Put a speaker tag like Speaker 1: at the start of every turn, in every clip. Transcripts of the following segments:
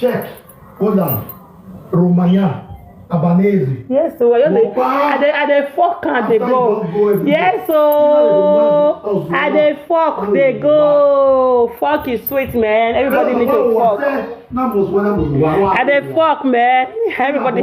Speaker 1: Czech, Holland, Romania, Albanese. Yes, so I just dey, I dey, I dey fuck and dey go. Yes, so I dey fuck, dey go. Fuck is sweet, man. Everybody need to fuck. I dey fuck, man. Everybody.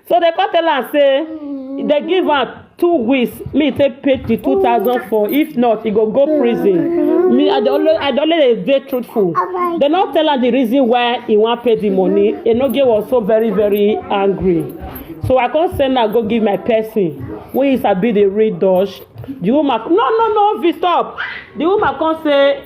Speaker 1: so they come tell am say they give am two weeks me take pay the two thousand four if not he go go prison me i dey always i dey always dey truthful they no tell am the reason why he wan pay the money enoge was so very very angry so i come send am go give my person wey he sabi dey read dutch the woman no no no fit stop the woman come say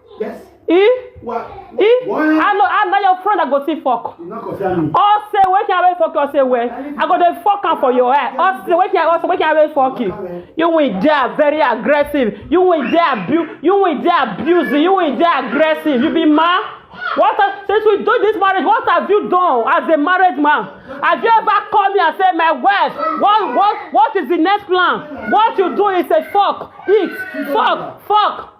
Speaker 1: Yes. Eh? What? Eh? What? I know, I know your friend that go see fuck. You not concern me. All say wait can I fuck you say where? I go dey fuck am for your head. All say wait can I wait can I fuck you. You will dey very aggressive. You will dey abuse. You will dey abuse. You will dey aggressive. You be mad. What have, since we do this marriage, what have you done as a married man? Have you ever called me and said, my wife, what, what, what is the next plan? What you do is a fuck, eat, fuck, fuck.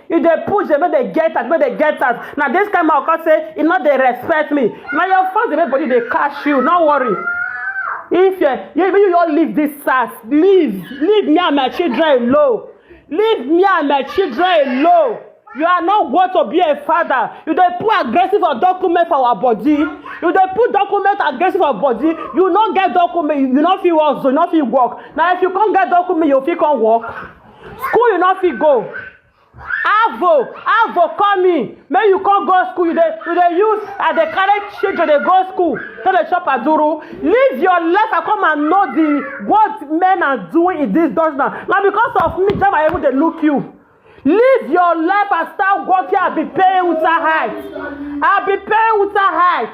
Speaker 1: you dey push dem make dem get out make dem get out na this kind man come say e no dey respect me na your fans dey make body dey catch you no worry if you you you you all leave this sars leave leave me and my children alone leave me and my children alone you are not worth to be a father you dey put aggressive for document for our body you dey put document aggressive for body you no get document you no fit work so you no fit work na if you come get document you fit come work. school you no fit go avo avo call me make you come go school you dey you dey use i dey carry children dey go school to dey chop aduru live your life and come and know the what men are doing in this dutch land na because of me jama even dey look you live your life and start working i be paying uta height i be paying uta height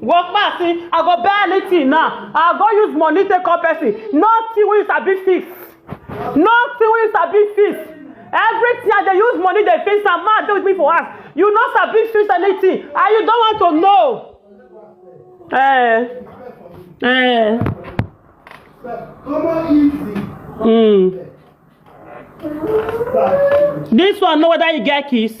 Speaker 1: work man see i go buy anything now i go use money take call person nothing wey you sabi fix nothing wey you sabi fix everything i dey use money dey fix am man dey with me for house you no sabi fix anything and you don want to know eh eh mm. this one know whether you get kiss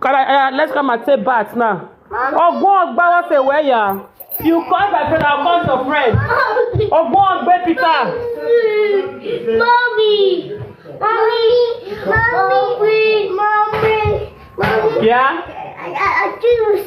Speaker 1: Kala, uh, let's come and take bath now. Ogbon Ogba was a where ya. You call my friend, I'll call your friend. Ogbon Ogbe Peter. Mommy. Mommy. Mommy. Mommy. Mommy. Yeah? I, I, I choose.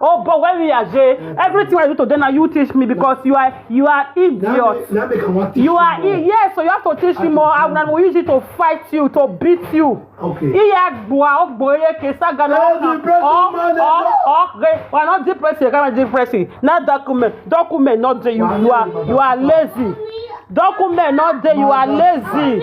Speaker 1: Oh, but when we are Jay, everything I do today now you teach me because you are you are idiot. Now make I wan teach You are more. i- yes, so you have to teach me more. I will use it to fight you, to beat you. Okay. Iya gboa ogboye kesa gana Hey, ọkàn depression ọ man, ọ eh, ọ re we are not depressing kama depressing na document document not dey you Wàhálà you are ni bàbá you are bàbá. lazy document not dey you are lazy.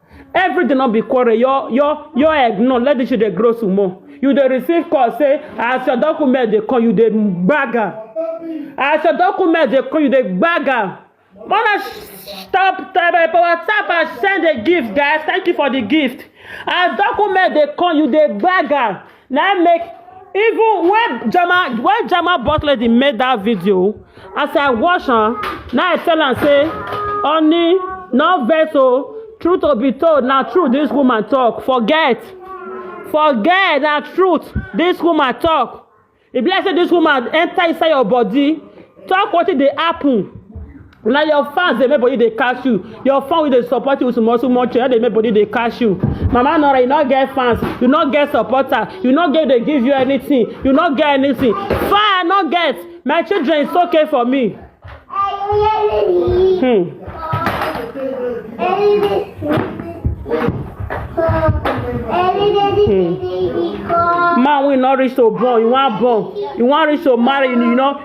Speaker 1: everything no be quarrel your your your egg no let the children grow some more you dey receive call say as your document dey come you dey gbag am as your document dey come you dey gbag am mona stop tebe whatsapp and send a gift guys thank you for the gift as document dey come you dey gbag am na im make even when jama when jama boss lady make that video as i watch am na i tell am say honey no vex o truth to be told na true this woman talk forget forget na truth this woman talk e be like say this woman enter inside your body talk wetin dey happen na your fans dey make body dey catch you your fan wey dey support you with small small change dey make body dey catch you mama nora you no get fans you no get supporter you no get dey give you anything you no get anything fire no get my children it's okay for me hmm. man wey no reach to born you wan born you wan reach to marry you know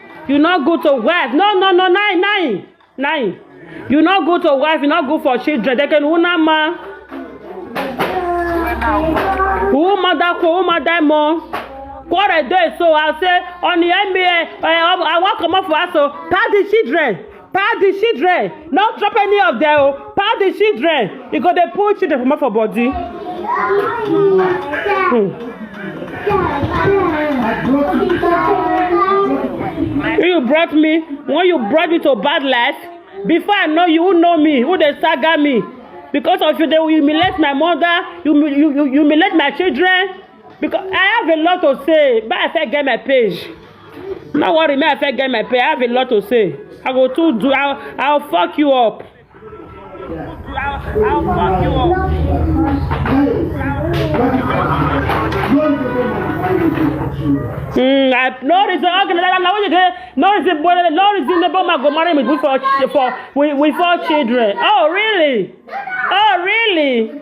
Speaker 1: you no go to wife no no no nine nine nine you no go to wife you no go for children they can una ma who mother ko who mother mo quarrel dey so i say on the nba uh, i wan comot for house o pass the children pack the children no drop any of them o pack the children you go dey pull children comot for body. Hmm. you brought me when you brought me to bad life before i know you who know me who dey saga me because of you dey humiliate my mother you you you humiliate my children Because I have a lot to say, but I fit get my page. No worry, me I fit get my page. I have a lot to say. I go to do. I'll, I'll fuck you up. I'll, I'll fuck you up. Mm, I, no reason. Okay, no, no, no, no, no reason. But no reason. The bomb go marry me with four, ch- for with, with four children. Oh really? Oh really?